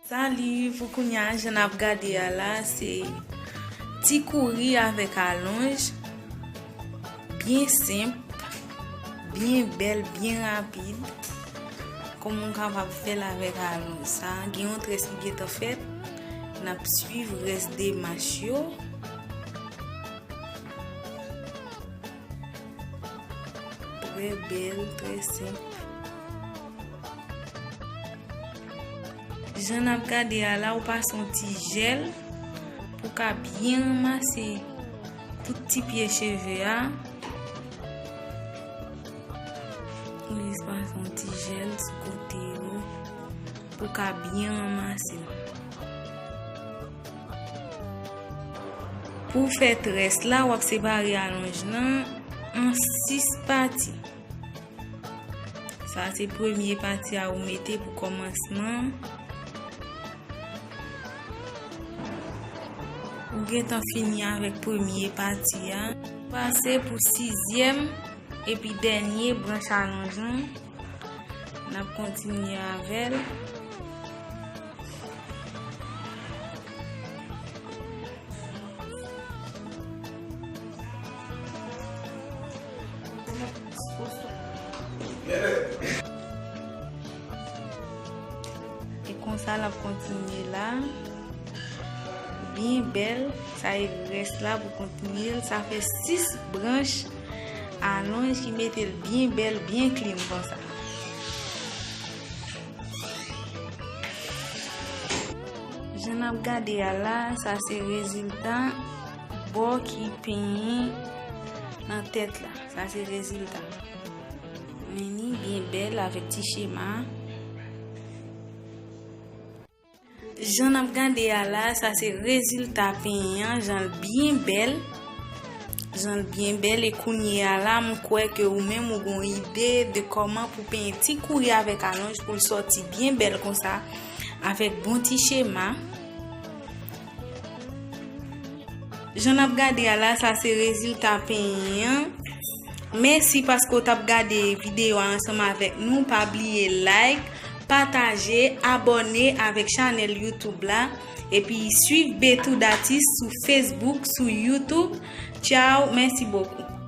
Salut pou kounya jan nap gade a la se ti kouri avèk alonj byen senp byen bèl byen rapid kòman ou kapab fèl avèk alonj sa gen yon tres ki gentan fèt nap swiv res demach yo. Trè bèl, trè senp. Jan nap gade a la ou pase yon ti jèl pou ka byen ranmase tout ti pye cheve a. Ou jis pase yon ti jèl sou kote yo pou ka byen ranmase. Pou fè tres la wap separe alonj lan an 6 pati. Sa se premye pati a ou mete pou komansman. Ou gen tan fini avèk premye pati a. Pase pou 6 zièm epi dènye branch alonj lan. N ap kontinye avè l. E konsa l ap kontinye la. Byen bèl. Sa e rès la pou kontinye l. Sa fè 6 branch. Alonj ki mete l byen bèl byen clean konsa. Jan nap gade a la sa se rezilta bò ki penyen nan tèt la. Sa se rezilta. Meni byen bèl avèk ti chema. Jan nap gade a la sa se rezilta pen an jan l byen bèl jan l byen bèl e kounye a la m kwè ke ou menm ou gon ide de kòman pou penyen ti kouri avèk alonj pou l sòti byen bèl konsa avèk bon ti chema. Jan nap gade a la sa se rezilta penyen an. Mèsi paske ou tap gade videyo a ansanm avèk nou. Pa bliye like, pataje, abòne avèk chanèl YouTube la. Epi swiv Bethoud Atis sou Facebook, sou YouTube. Tchao, mèsi bokou.